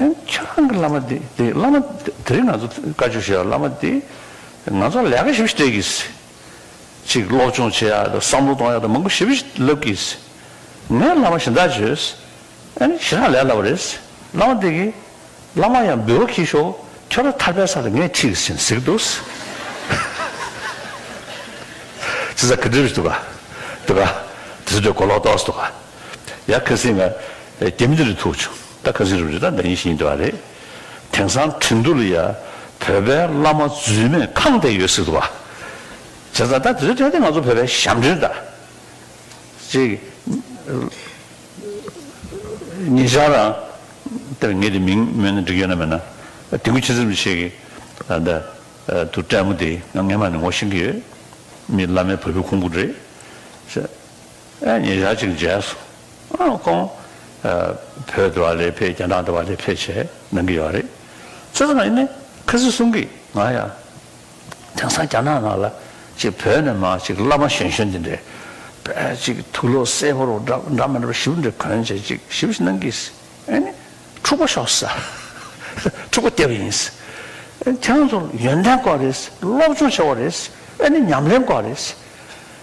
ཁྱེད་རང་གི་བླ་མ་དེ་དེ་བླ་མ་དེ་རིང་ང་ཚོ་བཀའ་བཅུ་བཞེས་པ་བླ་མ་དེ་ང་ཚོ་ལས་ཀ་ཞིབ་ཞིབ་སྤྲད་གི་སི། ཅིག་སློབ་སྦྱོང་བྱེད་ཡ་དང་བསམ་བློ་གཏོང་ཡ་དང་མང་པོ་ཞིབ་ཞིབ་ལབ་གི་སི། ངས་བླ་མ་ཞེ་འདག་བྱོས་སི། ཨན་ཞེ་དྲག་ལས་སླ་བ་རེད་སི། བླ་མ་དེ་གི། བླ་མ་ཡང་འབུལ་བ་གྱིས་ཤོག་ཁྱོད་རང་ཐར་པའི་ས་ལ་ངས་ཁྲིད་གི་སིན་ཟེར་གི་འདུག་སི། ཅི་ཟ་ཁི་འདྲི་བྱེད་འདུག་ག། འདུག་ག། དེ་ཚོ་འདྲ་གོ་ལོག་ཏོག་སི་འདུག་ག། ཡ་ཁ་སིང་ང། རྒྱ་མི་འདི་རུ་ཐུག་བྱུང་ད་ཁ་སིང་རུ་རི་དྭགས་འགའ་ཡིན་བཞིན་ཡིན་འདུག་བ་རེད། དེང་སང་ཁྲིན་ཏུ་ལ་ཡ། བོད་པའི་བླ་མ་རྫུན་མས་ཁང་བསྡད་ཡོད་སྲིད་འདུག་བ། བྱས་ཙང་ད་དེ་ཚོའི་ཐད་དེ་ང་ཚོ་བོད་པའི་ཞབས་འདྲེན་ད། ཅིག། ངེད་ཅག་རང། དེར་ངེད་དེ་མིང་སྨོས་ན་འགྲིག་ཡོད་ན་མེད་ན། དེ་ཁུལ་ཕྱི་ཚེམ་ཅིག་བྱེད་ཀྱི། ད། དུ་བཀྲས་མོ་དེ་ང་ངེད་མ་ནི་ངོ་ཤེས་ཀྱི་ཡོད། མི་བླ་མའི་བུ་བུ་ཁུང་བུ་རེད། ཤ། ཨེ་ཉི་ཡ་གཅིག་མཇལ་སོང། ཨང་ཀོང། བོད་དུ་བ་ལས་ཕེ་རྒྱ་ནག་ཏུ་བ་ལས་ཕེ་བྱས་གནང་གི་ཡོད་རེད། ཚོད་ཙམ་ཡིན་ནའི་ཁ་སི་གསུང་གི་ང་ཡ། དེང་སང་རྒྱ་ནག་ནང་ལ་ཅིག་བོད་ནས་མ་ཅིག་བླ་མ་གཞོན་གཞོན་འདི་འདྲས་བས་ཅིག་ཐུགས་བློ་གསལ་པོར་འདྲ་འདྲ་མི་འདྲ་བ་ཞིབ་འདྲ་གོན་བྱས་ཅིག་ཞིབ་ཞིབ་གནང་གི་ཨེ་ནི། འཁྲུག་པ་ཤོག་ས། འཁྲུག་པ་སྟེར་བ་ཡིན། ཁྱེད་རང་ཚོར་ཡོན་ཏན་དཀོན་རེད། སློབ་སྦྱོང་ཆེ་བ་རེད། ཨེ་ནི་ཉམས་ལེན་དཀོན་རེད།